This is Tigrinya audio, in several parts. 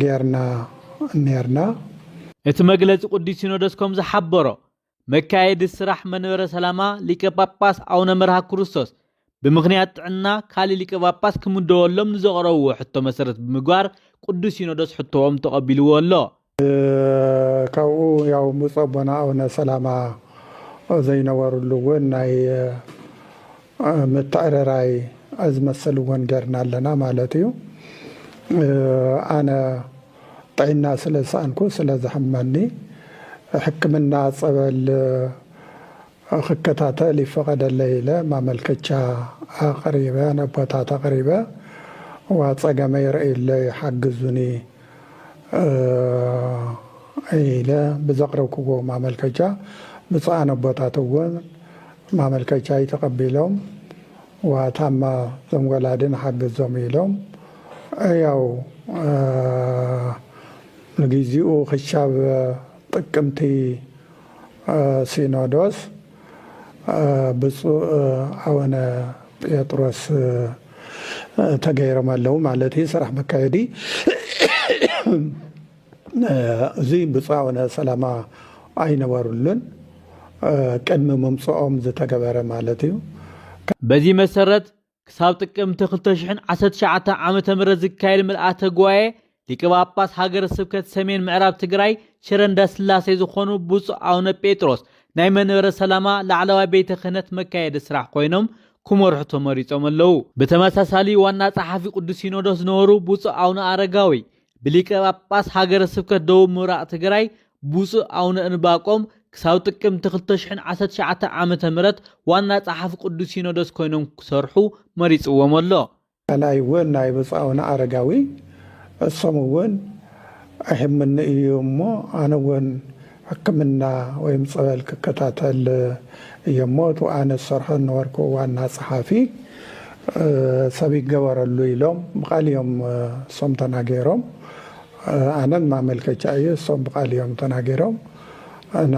ጌርና ኔርና። እቲ መግለጺ ቅዱስ ሲኖዶስ ከም ዝሓበሮ፣ መካየዲ ስራሕ መንበረ ሰላማ ሊቀ ጳጳስ ኣውነ መርሃ ክርስቶስ ብምኽንያት ጥዕና ካልእ ሊቀ ጳጳስ ክምደወሎም ንዘቕረብዎ ሕቶ መሰረት ብምግባር ቅዱስ ሲኖዶስ ሕቶኦም ተቐቢልዎ ኣሎ። ካብኡ ያው ብፁዕ ኣቦና ኣቡነ ሰላማ ዘይነበርሉ እውን ናይ ምትዕርራይ ዝመስል እውን ጌርና ኣለና ማለት እዩ ኣነ ጥዒና ስለ ዝሰኣንኩ ስለ ዝሕመኒ ሕክምና ፀበል ክከታተል ይፈቐደለይ ኢለ ማመልከቻ ኣቕሪበ ነቦታት ኣቕሪበ እዋ ፀገመይ ረእዩለይ ሓግዙኒ ኢለ ብዘቕረብኩዎ ማመልከቻ ብፁዓን ኣቦታት እውን ማመልከቻይ ተቐቢሎም እዋ ታማ እዞም ወላዲ ንሓግዞም ኢሎም ያው ንጊዚኡ ክሻብ ጥቅምቲ ሲኖዶስ ብፁእ ኣወነ ጴጥሮስ ተገይሮም ኣለዉ ማለት እዩ ስራሕ መካየዲ እዚ ብፁእ ኣወነ ሰላማ ኣይነበሩሉን ቅድሚ ምምፅኦም ዝተገበረ ማለት እዩ በዚህ መሰረት ክሳብ ጥቅምቲ 2019 ዓ ም ዝካየድ ምልኣተ ጉባኤ ሊቀ ጳጳስ ሃገረ ስብከት ሰሜን ምዕራብ ትግራይ ሽረ እንዳስላሴ ዝኾኑ ብፁዕ ኣውነ ጴጥሮስ ናይ መንበረ ሰላማ ላዕለዋይ ቤተ ክህነት መካየዲ ስራሕ ኮይኖም ክመርሑ ተመሪፆም ኣለዉ። ብተመሳሳሊ ዋና ጸሓፊ ቅዱስ ሲኖዶስ ዝነበሩ ብፁዕ ኣውነ ኣረጋዊ ብሊቀ ጳጳስ ሃገረ ስብከት ደቡብ ምብራቕ ትግራይ ብፁዕ ኣውነ እንባቆም ክሳብ ጥቅምቲ 2019 ዓ ም ዋና ጸሓፊ ቅዱስ ሲኖዶስ ኮይኖም ክሰርሑ መሪጽዎም ኣሎ። ካልኣይ እውን ናይ ብፁዕ ኣውነ ኣረጋዊ እሶም እውን ኣይሕምኒ እዩ እሞ ኣነ እውን ሕክምና ወይም ጸበል ክከታተል እየሞ እቲ ኣነ ዝሰርሖ ዝነበርኩ ዋና ጸሓፊ ሰብ ይገበረሉ ኢሎም ብቃል እዮም እሶም ተናጌሮም ኣነ ንማመልከቻ እየ እሶም ብቃል እዮም ተናጌሮም እና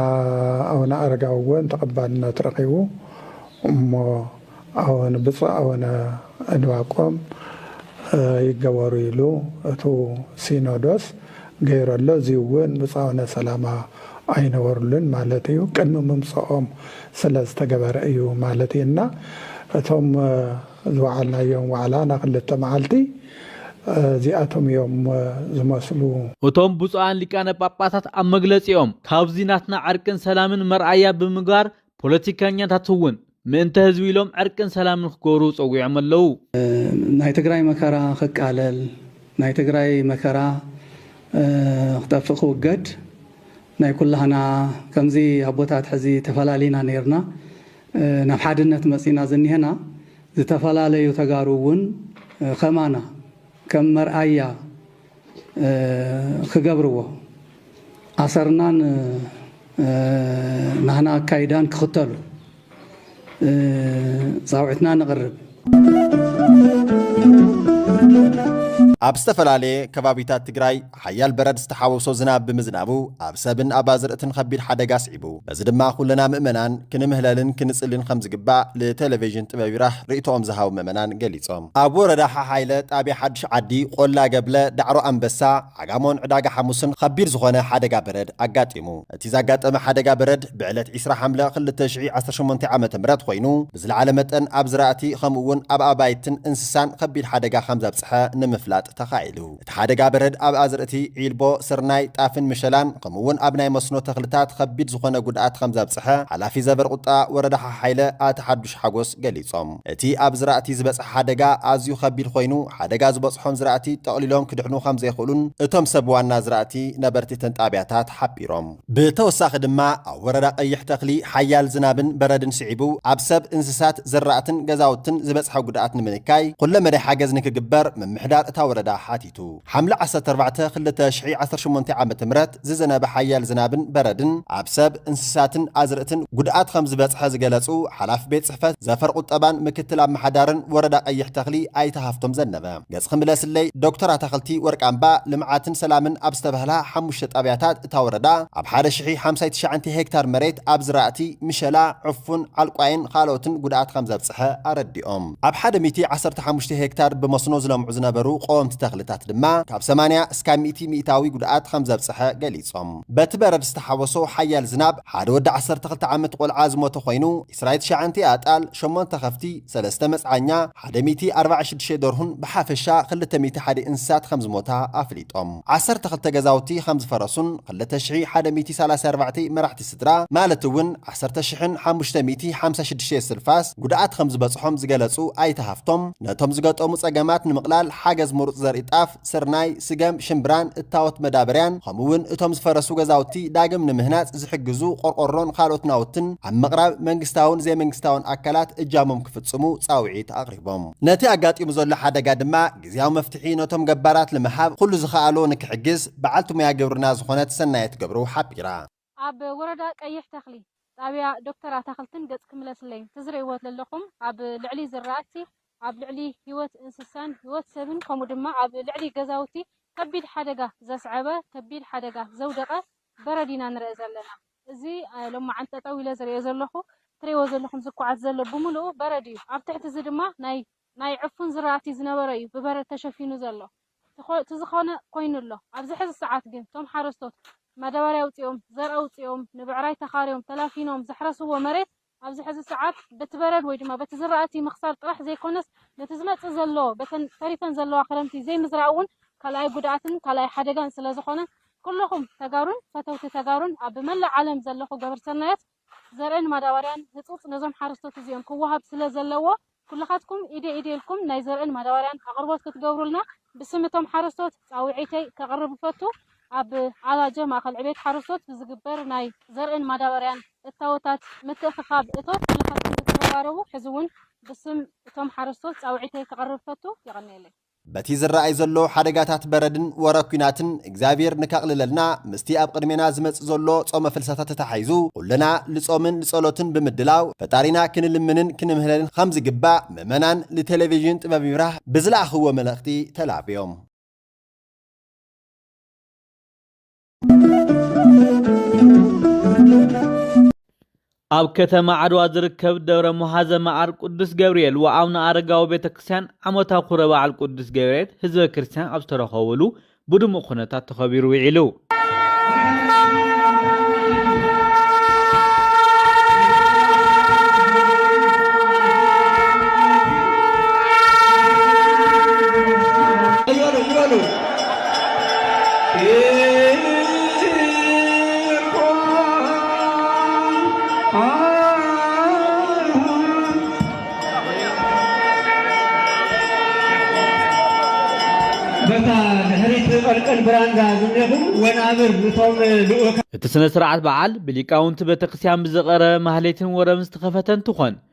ኣውነ ኣረጋዊ ወን ተቀባልነት ረኪቡ እሞ ኣወን ብፁዕ ኣወነ እንባቆም ይገበሩ ኢሉ እቱ ሲኖዶስ ገይሩ ኣሎ እዙይ እውን ብፁዕ ኣወነ ሰላማ ኣይነበሩሉን ማለት እዩ ቅድሚ ምምፀኦም ስለ ዝተገበረ እዩ ማለት እዩ እና እቶም ዝወዓልናዮም ዋዕላ ናይ ክልተ መዓልቲ እዚኣቶም እዮም ዝመስሉ። እቶም ብፁዓን ሊቃነ ጳጳሳት ኣብ መግለጺኦም ካብዚ ናትና ዕርቅን ሰላምን መርኣያ ብምግባር ፖለቲካኛታት እውን ምእንተ ህዝቢ ኢሎም ዕርቅን ሰላምን ክገብሩ ፀዊዖም ኣለው። ናይ ትግራይ መከራ ክቃለል፣ ናይ ትግራይ መከራ ክጠፍእ ክውገድ ናይ ኩላህና ከምዚ ኣቦታት ሕዚ ተፈላሊና ነይርና ናብ ሓድነት መፂና ዝኒሀና ዝተፈላለዩ ተጋሩ እውን ከማና ከም መርኣያ ክገብርዎ ኣሰርናን ናህና ኣካይዳን ክኽተሉ ፃውዒትና ነቕርብ። ኣብ ዝተፈላለየ ከባቢታት ትግራይ ሓያል በረድ ዝተሓወሶ ዝናብ ብምዝናቡ ኣብ ሰብን ኣብ ኣዝርእትን ኸቢድ ሓደጋ ኣስዒቡ። በዚ ድማ ኩልና ምእመናን ክንምህለልን ክንጽልን ከምዝግባእ ልተለቬዥን ጥበብ ይራህ ርእይቶኦም ዝሃቡ ምእመናን ገሊጾም። ኣብ ወረዳ ሓሓይለ ጣብያ ሓዱሽ ዓዲ፣ ቆላ ገብለ፣ ዳዕሮ ኣንበሳ፣ ዓጋሞን ዕዳጋ ሓሙስን ኸቢድ ዝኾነ ሓደጋ በረድ ኣጋጢሙ። እቲ ዛጋጠመ ሓደጋ በረድ ብዕለት ዕስራ ሓምለ ክልተ ሽሕ ዓሰርተ ሸሞንተ ዓመተ ምህረት ኾይኑ ብዝለዓለ መጠን ኣብ ዝራእቲ ኸምኡ እውን ኣብ ኣባይትን እንስሳን ኸቢድ ሓደጋ ኸምዘብፅሐ ንምፍላጥ ተኻኢሉ። እቲ ሓደጋ በረድ ኣብ ኣዝርእቲ ዒልቦ፣ ስርናይ፣ ጣፍን ምሸላን ከምኡ'ውን ኣብ ናይ መስኖ ተኽልታት ኸቢድ ዝኾነ ጉድኣት ኸምዘብፅሐ ሓላፊ ዘበርቁጣ ወረዳ ሓሓይለ ኣቶ ሓዱሽ ሓጎስ ገሊፆም። እቲ ኣብ ዝራእቲ ዝበፅሐ ሓደጋ ኣዝዩ ኸቢድ ኾይኑ ሓደጋ ዝበፅሖም ዝራእቲ ጠቕሊሎም ክድሕኑ ኸምዘይኽእሉን እቶም ሰብ ዋና ዝራእቲ ነበርቲ እተን ጣብያታት ሓቢሮም። ብተወሳኺ ድማ ኣብ ወረዳ ቀይሕ ተኽሊ ሓያል ዝናብን በረድን ስዒቡ ኣብ ሰብ፣ እንስሳት፣ ዘራእትን ገዛውትን ዝበፅሐ ጉድኣት ንምንካይ ኹለ መዳይ ሓገዝ ንክግበር ምምሕዳር እታ ወረዳ ሓቲቱ። ሓምለ ዓሰርተ ኣርባዕተ ክልተ ሽሕ ዓሰርተ ሸሞንተ ዓመተ ምህረት ዝዘነበ ሓያል ዝናብን በረድን ኣብ ሰብ፣ እንስሳትን ኣዝርእትን ጉድኣት ኸምዝበፅሐ ዝገለፁ ሓላፊ ቤት ፅሕፈት ዘፈር ቑጠባን ምክትል ኣመሓዳርን ወረዳ ቀይሕ ተኽሊ ኣይተ ሃፍቶም ዘነበ ገፅኺ ምለስለይ ዶክተር ኣታኽልቲ ወርቃምባ ልምዓትን ሰላምን ኣብ ዝተበሃላ ሓሙሽተ ጣብያታት እታ ወረዳ ኣብ ሓደ ሽሒ ሓምሳይ ትሽዓንተ ሄክታር መሬት ኣብ ዝራእቲ ምሸላ፣ ዕፉን፣ ዓልቋይን ኻልኦትን ጉድኣት ኸምዘብፅሐ ኣረዲኦም። ኣብ ሓደ ሚእቲ ዓሰርተ ሓሙሽተ ሄክታር ብመስኖ ዝለምዑ ዝነበሩ ቐወምቲ ተኽልታት ድማ ካብ ሰማንያ እስካብ ሚእቲ ሚኢታዊ ጉድኣት ኸምዘብፅሐ ገሊፆም። በቲ በረድ ዝተሓወሶ ሓያል ዝናብ ሓደ ወዲ ዓሰርተ ክልተ ዓመት ቖልዓ ዝሞተ ኾይኑ፣ ዕስራይ ትሽዓንቴ ኣጣል፣ ሸሞንተ ከፍቲ፣ ሰለስተ መጽዓኛ፣ ሓደ ሚእቲ ኣርባዕን ሽዱሽተ ደርሁን ብሓፈሻ ክልተ ሚእቲ ሓደ እንስሳት ከምዝሞታ ኣፍሊጦም። ዓሰርተ ክልተ ገዛውቲ ከምዝፈረሱን ክልተ ሽሒ ሓደ ሚእቲ ሰላሳይ ኣርባዕተ መራሕቲ ስድራ ማለት እውን ዓሰርተ ሽሕን ሓሙሽተ ሚእቲ ሓምሳ ሽዱሽተ ስልፋስ ጉድኣት ከምዝበጽሖም ዝገለጹ ኣይተ ሃፍቶም ነቶም ዝገጠሙ ጸገማት ንምቕላል ሓገዝ ምሩጽ ዘርኢ ጣፍ ስርናይ፣ ስገም፣ ሽምብራን እታወት መዳበርያን ከምኡ እውን እቶም ዝፈረሱ ገዛውቲ ዳግም ንምህናፅ ዝሕግዙ ቆርቆሮን ካልኦት ናውትን ኣብ ምቕራብ መንግስታውን ዘይመንግስታውን ኣካላት እጃሞም ክፍፅሙ ፃውዒት ኣቕሪቦም። ነቲ ኣጋጢሙ ዘሎ ሓደጋ ድማ ግዝያዊ መፍትሒ ነቶም ገባራት ልምሃብ ኹሉ ዝኸኣሎ ንክሕግዝ በዓልቲ ሙያ ግብርና ዝኾነት ሰናየት ገብሩ ሓቢራ። ኣብ ወረዳ ቀይሕ ተኽሊ ጣብያ ዶክተር ኣታኽልትን ገጽ ክምለስለይ ተዝርእይዎ ለለኹም ኣብ ልዕሊ ዝራእቲ ኣብ ልዕሊ ሂወት እንስሳን ሂወት ሰብን ከምኡ ድማ ኣብ ልዕሊ ገዛውቲ ከቢድ ሓደጋ ዘስዐበ ከቢድ ሓደጋ ዘውደቀ በረድ ኢና ንርእ ዘለና እዚ ሎማዓንቲ ጠጠው ኢለ ዝርእዮ ዘለኹ ትርእይዎ ዘለኹም ዝኳዓት ዘሎ ብምልኡ በረድ እዩ ኣብ ትሕቲ እዚ ድማ ናይ ናይ ዕፉን ዝራእቲ ዝነበረ እዩ ብበረድ ተሸፊኑ ዘሎ። እቲ ዝኾነ ኮይኑ ኣሎ። ኣብዚ ሕዚ ሰዓት ግን እቶም ሓረስቶት ማዳባርያ ኣውፂኦም፣ ዘርኢ ኣውፂኦም፣ ንብዕራይ ተኻርዮም፣ ተላፊኖም ዘሕረስዎ መሬት ኣብዚ ሕዚ ሰዓት በቲ በረድ ወይ ድማ በቲ ዝራእቲ ምኽሳር ጥራሕ ዘይኮነስ ነቲ ዝመፅእ ዘሎ በተን ተሪፈን ዘለዋ ክረምቲ ዘይምዝራእ እውን ካልኣይ ጉድኣትን ካልኣይ ሓደጋን ስለዝኾነ ኩለኹም ተጋሩን ፈተውቲ ተጋሩን ኣብ መላእ ዓለም ዘለኹ ገበርቲ ሰናያት ዘርእን ማዳባርያን ህጹጽ ነዞም ሓረስቶት እዚኦም ክወሃብ ስለ ዘለዎ ኩልኻትኩም ኢደይ ኢደይ ኢልኩም ናይ ዘርእን ማዳባርያን ኣቕርቦት ክትገብሩልና ብስም እቶም ሓረስቶት ጻውዒተይ ከቕርብ እፈቱ። ኣብ ዓጋጀ ማእከል ዕብየት ሓረስቶት ብዝግበር ናይ ዘርእን ማዳባርያን እታወታት ምትእኽኻብ እቶት ኩልኻትኩም ክትረባረቡ ሕዚ እውን ብስም እቶም ሓረስቶት ጻውዒተይ ከቕርብ እፈቱ። የቐንየለይ። በቲ ዝረኣይ ዘሎ ሓደጋታት በረድን ወረ ኩናትን እግዚኣብሔር ንከቕልለልና ምስቲ ኣብ ቕድሜና ዝመጽእ ዘሎ ጾመ ፍልሰታ ተተሓሒዙ ኹልና ልጾምን ልጸሎትን ብምድላው ፈጣሪና ክንልምንን ክንምህለልን ኸም ዝግባእ ምእመናን ልቴሌቪዥን ጥበብ ይብራህ ብዝለኣኽዎ መልእኽቲ ተላብዮም። ኣብ ከተማ ዓድዋ ዝርከብ ደብረ መሓዘ መዓር ቅዱስ ገብርኤል ወኣቡነ ኣረጋዊ ቤተ ክርስቲያን ዓመታዊ ክብረ በዓል ቅዱስ ገብርኤል ህዝበ ክርስቲያን ኣብ ዝተረኸብሉ ብድሙቕ ኩነታት ተኸቢሩ ውዒሉ እቲ ስነ ስርዓት በዓል ብሊቃውንቲ ቤተክርስቲያን ብዝቐረበ ማህሌትን ወረብን ዝተኸፈተ እንትኾን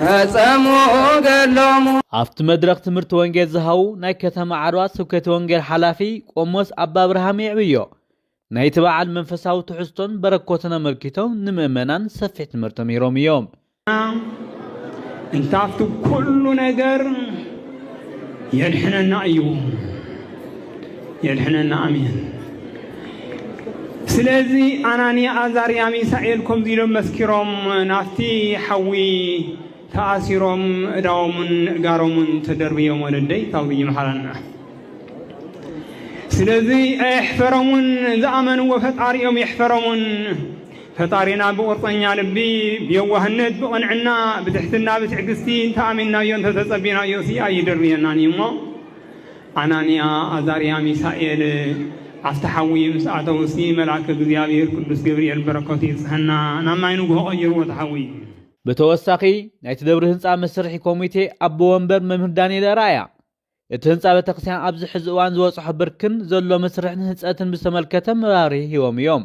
ፈጸሙ ገድሎሙ። ኣብቲ መድረኽ ትምህርቲ ወንጌል ዝሃቡ ናይ ከተማ ዓድዋ ስብከተ ወንጌል ሓላፊ ቆሞስ ኣባ ኣብርሃም የዕብዮ ናይቲ በዓል መንፈሳዊ ትሕዝቶን በረኮትን ኣመልኪቶም ንምእመናን ሰፊሕ ትምህርቲ ምሂሮም እዮም። እንታፍቱ ኩሉ ነገር የድሕነና እዩ። የድሕነና ኣሜን። ስለዚ ኣናንያ ኣዛርያ ሚሳኤል ከምዚ ኢሎም መስኪሮም ናፍቲ ሓዊ ተኣሲሮም እዳዎምን እጋሮምን ተደርብዮም ወለደይ ካብዚ ይምሃረና። ስለዚ ኣየሕፈሮምን ዝኣመንዎ ፈጣሪኦም የሕፈሮምን። ፈጣሪና ብቁርፀኛ ልቢ ብየዋህነት ብቕንዕና ብትሕትና ብትዕግስቲ እንተኣሚንናዮ እንተተፀቢናዮ ሲ ኣይድርብየናን እዩ እሞ ኣናንያ ኣዛርያ ሚሳኤል ኣብቲ ሓዊ ምስ ኣተዉሲ መልኣከ እግዚኣብሔር ቅዱስ ገብርኤል በረከቱ ይብፅሐና ናብ ማይ ንጉሆ ቀይርዎ እቲ ሓዊ። ብተወሳኺ ናይቲ ደብሪ ህንፃ መስርሒ ኮሚቴ ኣቦ ወንበር መምህር ዳንኤል ኣርኣያ እቲ ህንፃ ቤተክርስቲያን ኣብዚ ሕዚ እዋን ዝበፅሖ ብርክን ዘሎ መስርሕን ህንፀትን ብዝተመልከተ መብራህርሂ ሂቦም እዮም።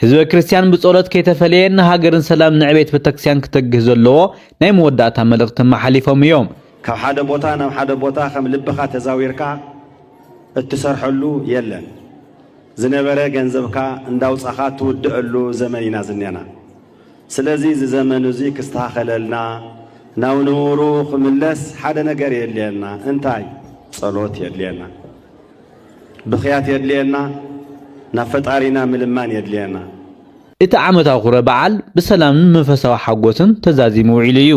ህዝበ ክርስቲያን ብጸሎት ከይተፈለየ ንሃገርን ሰላም ንዕቤት ቤተክርስቲያን ክተግህ ዘለዎ ናይ መወዳእታ መልእኽቲ ኣመሓሊፎም እዮም። ካብ ሓደ ቦታ ናብ ሓደ ቦታ ከም ልብኻ ተዛዊርካ እትሰርሐሉ የለን። ዝነበረ ገንዘብካ እንዳውጻኻ እትውድኣሉ ዘመን ኢና ዝኔና። ስለዚ እዚ ዘመን እዙይ ክስተኻኸለልና ናብ ንቡሩ ክምለስ ሓደ ነገር የድልየና። እንታይ? ጸሎት የድልየና። ብኽያት የድልየና ናብ ፈጣሪና ምልማን የድልየና። እቲ ዓመታዊ ክብረ በዓል ብሰላምን መንፈሳዊ ሓጎስን ተዛዚሙ ውዒሉ እዩ።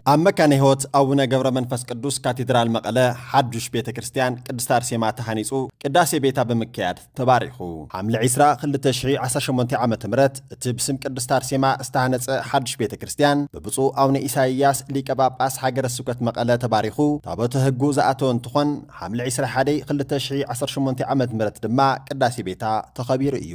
ኣብ መካነ ሕይወት ኣቡነ ገብረ መንፈስ ቅዱስ ካቴድራል መቐለ ሓዱሽ ቤተ ክርስቲያን ቅድስት ኣርሴማ ተሃኒፁ ቅዳሴ ቤታ ብምክያድ ተባሪኹ። ሓምለ ዒስራ ክልተ ሽሕ ዓሰርተ ሸሞንተ ዓመተ ምህረት እቲ ብስም ቅድስት ኣርሴማ ዝተሃነፀ ሓዱሽ ቤተ ክርስትያን ብብፁዕ ኣውነ ኢሳይያስ ሊቀ ጳጳስ ሃገረ ስብከት መቐለ ተባሪኹ ታቦተ ህጉ ዝኣተወ እንትኾን ሓምለ ዒስራ ሓደ ክልተ ሽሕ ዓሰርተ ሸሞንተ ዓመት ምህረት ድማ ቅዳሴ ቤታ ተኸቢሩ እዩ።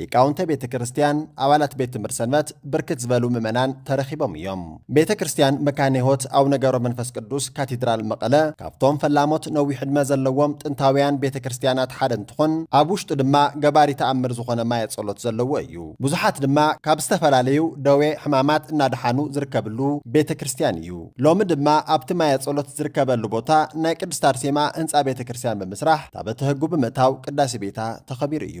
ሊቃውንተ ቤተ ክርስቲያን፣ ኣባላት ቤት ትምህርት ሰንበት፣ ብርክት ዝበሉ ምእመናን ተረኺቦም እዮም። ቤተ ክርስቲያን መካነ ሕይወት ኣቡነ ገብረ መንፈስ ቅዱስ ካቴድራል መቐለ ካብቶም ፈላሞት ነዊሕ ዕድመ ዘለዎም ጥንታውያን ቤተ ክርስቲያናት ሓደ እንትኾን ኣብ ውሽጡ ድማ ገባሪ ተኣምር ዝኾነ ማየ ጸሎት ዘለዎ እዩ። ብዙሓት ድማ ካብ ዝተፈላለዩ ደዌ ሕማማት እናደሓኑ ዝርከብሉ ቤተ ክርስቲያን እዩ። ሎሚ ድማ ኣብቲ ማየ ጸሎት ዝርከበሉ ቦታ ናይ ቅድስት ኣርሴማ ህንጻ ቤተ ክርስቲያን ብምስራሕ ታበተ ህጉ ብምእታው ቅዳሴ ቤታ ተኸቢሩ እዩ።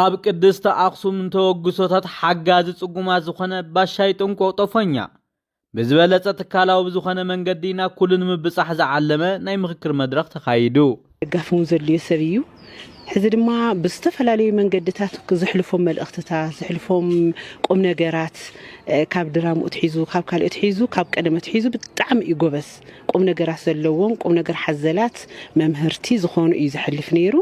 ኣብ ቅድስተ ኣኽሱም ንተበግሶታት ሓጋዚ ጽጉማት ዝኾነ ባሻይ ጥንቁቕ ጦፈኛ ብዝበለፀ ትካላዊ ብዝኾነ መንገዲ ናብ ኩሉ ንምብፃሕ ዝዓለመ ናይ ምኽክር መድረኽ ተኻይዱ። ደጋፊ እውን ዘድልዮ ሰብ እዩ። ሕዚ ድማ ብዝተፈላለዩ መንገድታት ዘሕልፎም መልእኽትታት፣ ዘሕልፎም ቁምነገራት ካብ ድራምኡ ኣትሒዙ፣ ካብ ካልእ ኣትሒዙ፣ ካብ ቀደም ኣትሒዙ ብጣዕሚ እዩ ጎበዝ። ቁምነገራት ዘለዎም፣ ቁምነገር ሓዘላት መምህርቲ ዝኾኑ እዩ ዘሕልፍ ነይሩ።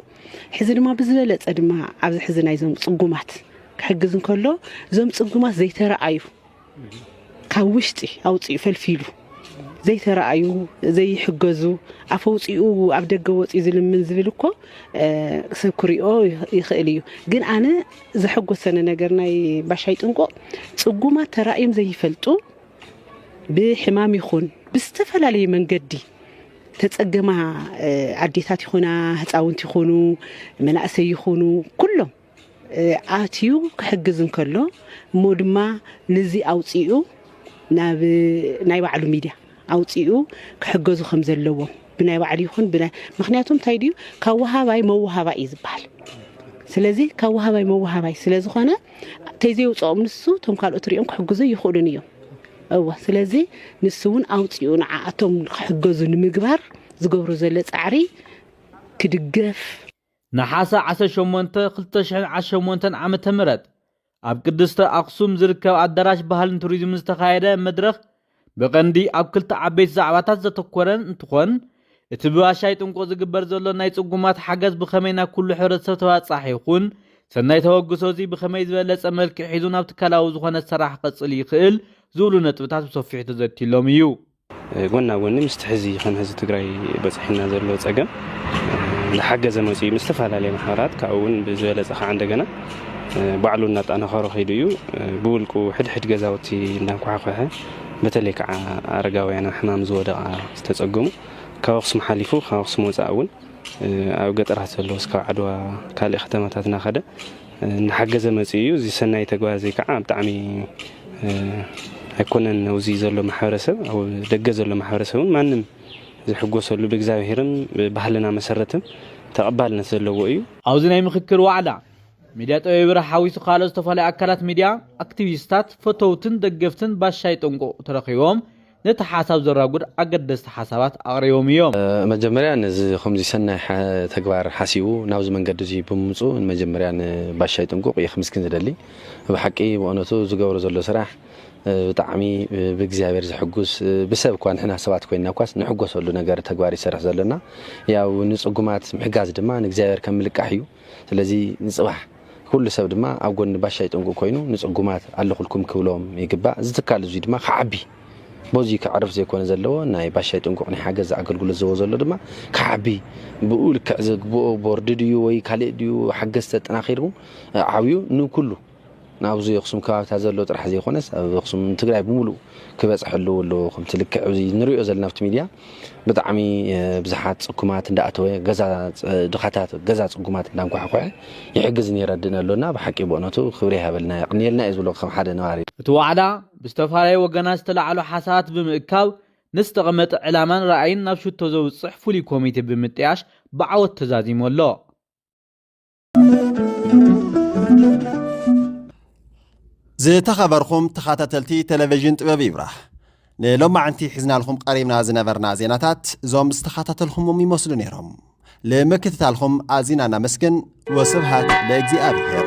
ሕዚ ድማ ብዝበለፀ ድማ ኣብዚ ሕዚ ናይዞም ፅጉማት ክሕግዝ እንከሎ እዞም ፅጉማት ዘይተረኣዩ ካብ ውሽጢ ኣውፂኡ ፈልፊሉ ዘይተረኣዩ ዘይሕገዙ ኣፈውፅኡ ኣብ ደገ ወፅኡ ዝልምን ዝብል እኮ ሰብ ክሪኦ ይኽእል እዩ ግን ኣነ ዘሐጎሰኒ ነገር ናይ ባሻይ ጥንቁቕ ፅጉማት ተራእዮም ዘይፈልጡ ብሕማም ይኹን ብዝተፈላለየ መንገዲ ተፀገማ ኣዴታት ይኹና ህፃውንቲ ይኹኑ መናእሰይ ይኹኑ ኩሎም ኣትዩ ክሕግዝ እንከሎ እሞ ድማ ንዚ ኣውፂኡ ናብ ናይ ባዕሉ ሚድያ ኣውፂኡ ክሕገዙ ከም ዘለዎም ብናይ ባዕሉ ይኹን ምክንያቱ እንታይ ድዩ ካብ ወሃባይ መወሃባይ እዩ ዝበሃል ስለዚ ካብ ወሃባይ መወሃባይ ስለዝኾነ ተይዘይውፅኦም ንሱ እቶም ካልኦት ሪኦም ክሕግዙ ይኽእሉን እዮም እወ ስለዚ ንሱ እውን ኣውፅኡ ንዓኣቶም ክሕገዙ ንምግባር ዝገብሩ ዘሎ ፃዕሪ ክድገፍ ነሓሰ ዓሰርተ ሸሞንተ ክልተ ሽሕን ዓሰርተ ሸሞንተን ዓመተ ምህረት ኣብ ቅድስተ ኣኽሱም ዝርከብ ኣዳራሽ ባህልን ቱሪዝምን ዝተኻየደ መድረኽ ብቐንዲ ኣብ ክልተ ዓበይቲ ዛዕባታት ዘተኮረን እንትኾን እቲ ብባሻይ ጥንቁቕ ዝግበር ዘሎ ናይ ጽጉማት ሓገዝ ብኸመይ ናብ ኩሉ ሕብረተሰብ ተባጻሒ ይኹን ሰናይ ተበግሶ እዚ ብኸመይ ዝበለጸ መልክዕ ሒዙ ናብ ትካላዊ ዝኾነ ሰራሕ ክቐጽል ይኽእል ዝብሉ ነጥብታት ብሰፊሑ ተዘትዩሎም እዩ። ጎና ጎኒ ምስቲ ሕዚ ከም ህዝቢ ትግራይ በፅሒና ዘሎ ፀገም ዝሓገዘ መፅኡ ምስ ዝተፈላለየ ማሕበራት ካብኡ እውን ብዝበለፀ ከዓ እንደገና ባዕሉ እናጠናኸሮ ከይዱ እዩ ብውልቁ ሕድሕድ ገዛውቲ እናኳሓኳሐ በተለይ ከዓ ኣረጋውያን ኣብ ሕማም ዝወደቃ ዝተፀገሙ ካብ ኣክሱም ሓሊፉ ካብ ኣክሱም ወፃእ እውን ኣብ ገጠራት ዘለዉ እስካብ ዓድዋ ካልእ ከተማታት እናኸደ እናሓገዘ መፂኡ እዩ። እዚ ሰናይ ተግባር እዚ ከዓ ብጣዕሚ ኣይኮነን ኣብዚ ዘሎ ማሕበረሰብ ኣብ ደገ ዘሎ ማሕበረሰብ እውን ማንም ዝሕጎሰሉ ብእግዚኣብሄርን ብባህልና መሰረትን ተቐባልነት ዘለዎ እዩ። ኣብዚ ናይ ምኽክር ዋዕላ ሚድያ ጠቢብ ብርሃ ሓዊሱ ካልኦት ዝተፈላለዩ ኣካላት ሚድያ፣ ኣክቲቪስታት፣ ፈተውትን ደገፍትን ባሻይ ጥንቁቕ ተረኺቦም። ነቲ ሓሳብ ዘራጉድ ኣገደስቲ ሓሳባት ኣቕሪቦም ኢዮም። መጀመርያ ነዚ ከምዚ ሰናይ ተግባር ሓሲቡ ናብዚ መንገዲ እዚ ብምምጽኡ ንመጀመርያ ን ባሻይ ጥንቁቅ እየ ክምስግን ዝደሊ ብሓቂ ብኦነቱ ዝገብሮ ዘሎ ስራሕ ብጣዕሚ ብእግዚኣብሔር ዘሕጉስ ብሰብ እኳ ንሕና ሰባት ኮይና እኳስ ንሕጎሰሉ ነገር ተግባር ይሰርሕ ዘሎ እና ያው ንጽጉማት ምሕጋዝ ድማ ንእግዚኣብሔር ከም ምልቃሕ እዩ ስለዚ ንፅባሕ ኩሉ ሰብ ድማ ኣብ ጎኒ ባሻ ይጥንቁ ኮይኑ ንፅጉማት ኣለኹልኩም ክብሎም ይግባእ። እዚ ትካል እዙይ ድማ ክዓቢ በዙይ ከዕርፍ ዘይኮነ ዘለዎ ናይ ባሻ ይጥንቁቕ ናይ ሓገዝ ኣገልግሎት ዘቦ ዘሎ ድማ ክዓቢ ብኡ ልክዕ ዝግብኦ ቦርድ ድዩ ወይ ካልእ ድዩ ሓገዝቲ ኣጠናኺርኩም ዓብዩ ንኩሉ ናብዚ ኣኽሱም ከባቢታት ዘሎ ጥራሕ ዘይኮነስ ኣብ ኣኽሱም ንትግራይ ብምሉኡ ክበፅሕ ኣለዎ ኣሎ ከምቲ ልክዕ እዚ ንሪኦ ዘለና ኣብቲ ሚድያ ብጣዕሚ ብዙሓት ፅኩማት እንዳኣተወ ገዛ ድኻታት ገዛ ፅጉማት እንዳንኳሕኮሐ ይሕግዝን የረድእን ኣሎና ብሓቂ ብእውነቱ ክብሪ ይሃበልና የቕንየልና እዩ ዝብሎ ከም ሓደ ነባሪ እቲ ዋዕላ ብዝተፈላለዩ ወገናት ዝተላዕሉ ሓሳባት ብምእካብ ንዝተቐመጠ ዕላማን ራእይን ናብ ሽቶ ዘውፅሕ ፍሉይ ኮሚቴ ብምጥያሽ ብዓወት ተዛዚሙ ኣሎ። ዝተኸበርኹም ተኸታተልቲ ቴሌቪዥን ጥበብ ይብራህ ንሎማዕንቲ ሒዝናልኹም ቀሪብና ዝነበርና ዜናታት እዞም ዝተኸታተልኹምም ይመስሉ ነይሮም ንምክትታልኹም ኣዚና እናመስግን ወስብሃት ለእግዚኣብሔር